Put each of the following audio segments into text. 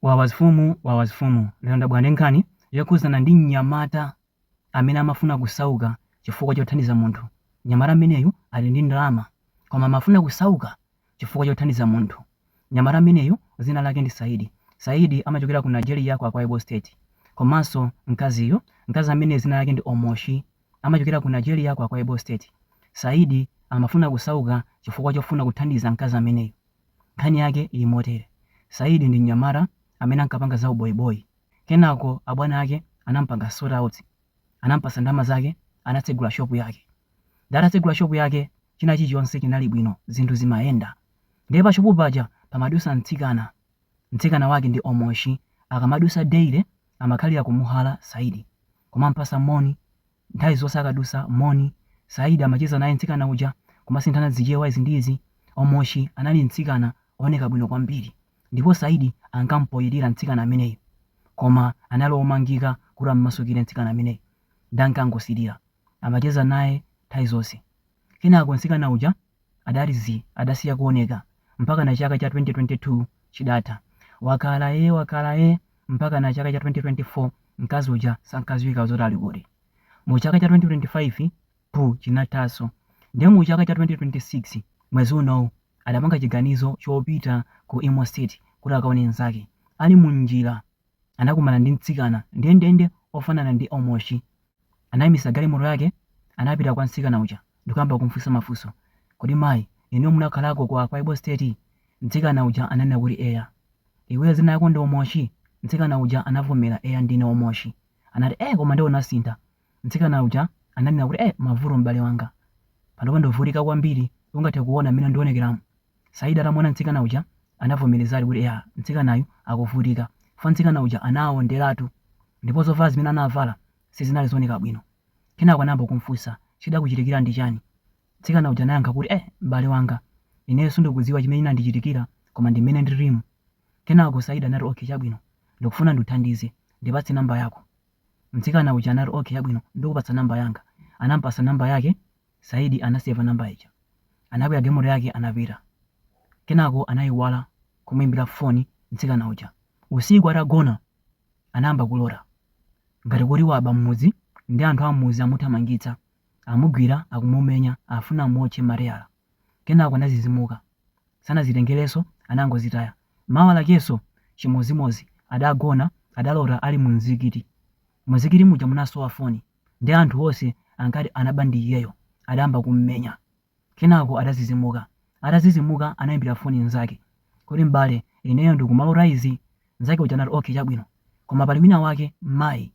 Wawa mfumu wawa mfumu lero ndabwera ndi nkhani yokhudzana ndi mnyamata amene amafuna kusauka chifukwa chothandiza munthu mnyamata ameneyu ali ndi ndalama koma amafuna kusauka chifukwa chothandiza munthu mnyamata ameneyu dzina lake ndi saidi saidi amachokera ku nigeria ku akwaibo state komanso mkaziyu mkazi amene dzina lake ndi omoshi amachokera ku Nigeria ku Akwa Ibom State saidi amafuna kusauka chifukwa chofuna kuthandiza mkazi ameneyu Nkhani yake ili motere, Saidi ndi mnyamata amene ankapanga za uboyiboyi. Kenako abwana ake anampanga sort out, anampatsa ndalama zake, anatsegula shop yake. Nde atatsegula shop yake, china chilichonse chinali bwino, zinthu zimayenda. Ndiye pa shop paja pamadutsa mtsikana, mtsikana wake ndi Omoshi. Akamadutsa daily amakhalira kumuhala Saidi, kumampatsa moni Nthawi zonse akadusa, moni. Saidi amacheza naye mtsikana uja, kumasinthana zichewa izi ndi izi. Omoshi anali mtsikana ooneka bwino kwambiri ndipo Saidi ankampoyirira mtsikana ameneyu. Koma anali omangika kuti ammasukire mtsikana ameneyu. Nde ankangosilira. Amacheza naye nthawi zonse. Kenako mtsikana uja adati zii, adasiya kuoneka mpakana chaka cha 2022 chidatha. Wakhala ee, wakhala ee mpakana chaka cha 2024 mkazi uja sankadziwika zoti ali kuti. Mu chaka cha 2025 buu chinathanso. Ndiye mu chaka cha 2026 mwezi unowu adapanga chiganizo chopita ku Imo State kuti akaone mnzake. Ali mu njira anakumana ndi mtsikana ndendende ofanana ndi Omoshi. Anaimitsa galimoto yake, anapita kwa mtsikana uja, ndikuyamba kumfunsa mafunso. Kodi mayi, inuyo munakhalako ku Akwa Ibom State? Mtsikana uja ananena kuti eya. Iweyo dzina lako ndi Omoshi? Mtsikana uja anavomera, eya ndine Omoshi. Anati, eh koma nde unasintha. Mtsikana uja ananena kuti eh mavuto m'bale wanga. Panopa ndikuvutika kwambiri, ungathe kuona mmene ndionekeramu. Saidi atamuona mtsikana uja anavomelezadi kuti eya mtsikanayu akuvutika fukwa mtsikana uja anawondelatu ndipo zovala zimene anavala sizinali zooneka bwino kenako anayamba kumfunsa chidakuchitikila ndi chani mtsikana uja anayankha kuti eh m'bale wanga ineyo sundikudziwa chimene chinandichitikila koma ndi m'mene ndililimu kenako Saidi anati okay chabwino ndikufuna ndikuthandize ndipatse number yako mtsikana uja anati okay chabwino ndikupatsa number yanga anampasa number yake Saidi anaseva namba ija. Anakwera galimoto yake anapita. Kenako anaiwala kumuimbira foni mtsikana uja. Usiku atagona anayamba kulota ngati kuti waba m'mudzi ndi anthu am'mudzi amuthamangitsa, amugwira akumumenya afuna amuotche mateyala. Kenako anadzidzimuka. Sanazitengerenso anangozitaya. Mawa lakenso chimodzimodzi adagona adalota ali mu mzikiti. Mu mzikiti muja munasowa foni. Ndiye anthu onse ankati anaba ndi iyeyo. Adayamba kummenya. Kenako adadzidzimuka. Atadzidzimuka anaimbira foni mnzake kuti, M'bale, ineyo ndikumalota izi. Mnzake uja anati, Okay, chabwino. Koma pali winawake, mayi,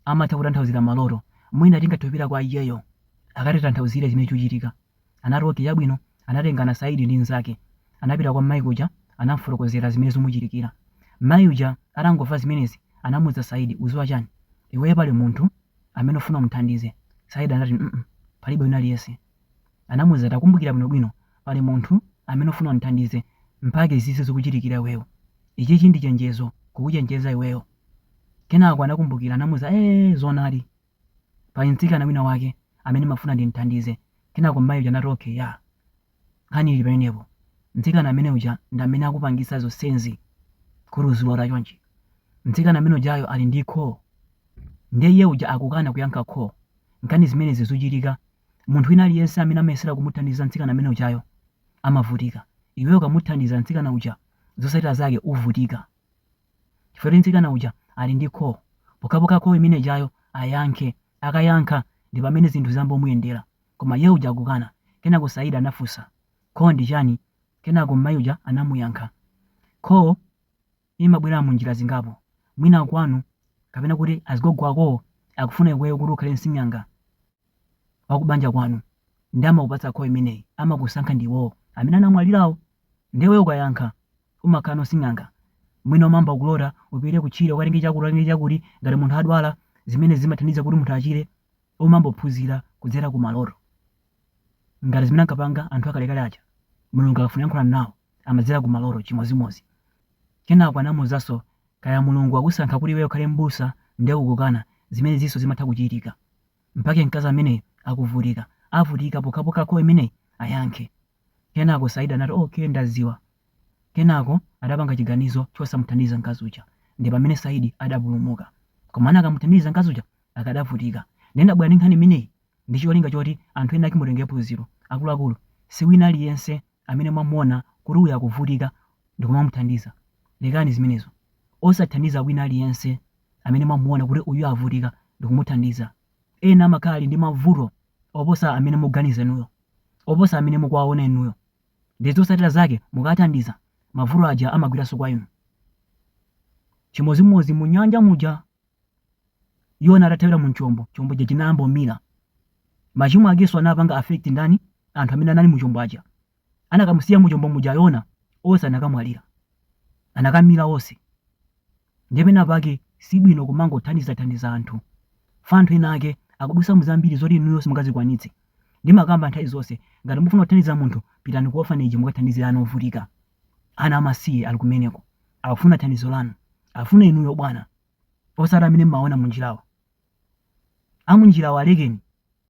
amatha kutanthauzira maloto. Mwina tingathe kupita kwa iyeyo akatitanthauzire chimene chikuchitika. anati, Ok, chabwino. Anatengana Saidi ndi mzake, anapita kwa mmayi uja, anamufotokozera zimene zumuchitikira. Mmayi uja atangomva zimenezi anamuuza Saidi, uziwa chani? Iweyo pali munthu amene ufuna umuthandize? Saidi anati, mm palibe wina aliyense. Anamuuza, takumbukira bwino bwino, pali munthu amene ufuna umthandize mpake izizi zikuchitikira iweyo. Ichichi ndi chenjezo kukuchenjeza iweyo. Kenako anakumbukira, anamuuza, eeh zoonadi. Pali mtsikana wina wake amene ndimafuna ndimthandize. Kenako mmayi uja anati okay yeah nkhani ili pamenepo. Mtsikana amene uja ndi amene akupangitsa zonsenzi kuti uzilota chonchi. Mtsikana amene ujayo ali ndi call ndiye iye uja akukana kuyankha call. Nchifukwa chake zimenezi zuchitika munthu wina aliyense amene amayesera kumuthandiza mtsikana amene ujayo amavutika. Iweyo ukamuthandiza mtsikana uja zotsatira zake uvutika. chifukwa choti mtsikana uja ali ndi call, pokhapokha call imene ijayo ayankhe, akayankha ndipamene zinthu ziyambomuyendera, koma iye uja akukana, kenako Saidi anafunsa, call ndi chani, kenako m'mayi uja anamuyankha, call imabwera mu njira zingapo, mwina kwanu kapena kwa azigogo akowo akufuna iweyo kuti ukhale nsing'anga waku banja kwanu nde amakupatsa call imeneyi, amakusankha ndi iwowo amene anamwalirawo, nde iweyo ukayankha. umakhala nsing'anga, mwina umayamba kulota upite kutchire ukatenge chakuti ukatenge chakuti, ngati munthu adwala zimenezi zimathandiza kuti munthu achire, umayamba kuphunzira kudzera ku maloto, ngati zimene ankapanga anthu akalekale aja, Mulungu akafuna kuyankhulana nawo amadzera ku maloto chimodzimodzi. Kenako anamuuzanso, kaya Mulungu wakusankha kuti iweyo ukhale m'busa nde ukukana, zimenezinso zimatha kuchitika. Mpake mkazi ameneyu akuvutika, avutika pokhapokha call imeneyi ayankhe. Kenako Saidi anati okay ndaziwa kenako adapanga chiganizo chosamuthandiza mkazi uja ndipamene Saidi adapulumuka koma anakamuthandiza mkazi uja akadavutika nde ndabwera ndi nkhani imeneyi ndicholinga choti anthu enaake mutengere phunziro akuluakulu siwina aliyense amene mwamuona kuti uyu akuvutika ndikumamuthandiza lekani zimenezo osathandiza wina aliyense amene mwamuona kuti uyu avutika ndikumuthandiza ena amakhala ali ndi mavuto oposa amene mukuganiza inuyo oposa amene mukuwaona inuyo ndiye zotsatira zake mukawathandiza mavuto aja amagweranso kwa inu. Chimodzimodzi mu nyanja muja Yona atathawira mu chombo, chombo chija chinayamba kumira. Machimo akenso anapanga affect ndani? Anthu amene anali mu chombo aja. Anakamusiya mu chombo muja Yona, onse anakamwalira. Anakamira onse. Ndiye penapake si bwino kumangothandizathandiza anthu. Chifukwa anthu enaake akudusa mu zambiri zoti inuyo simungazikwanitse. Ndimakamba nthawi zonse, ngati mukufuna kuthandiza munthu, pitani ku orphanage mukathandize ana ovutika. Ana amasiye ali kumeneko. Akufuna thandizo lanu. Akufuna inuyo bwana. Osati amene mumawaona munjirawo. A munjirawo alekeni.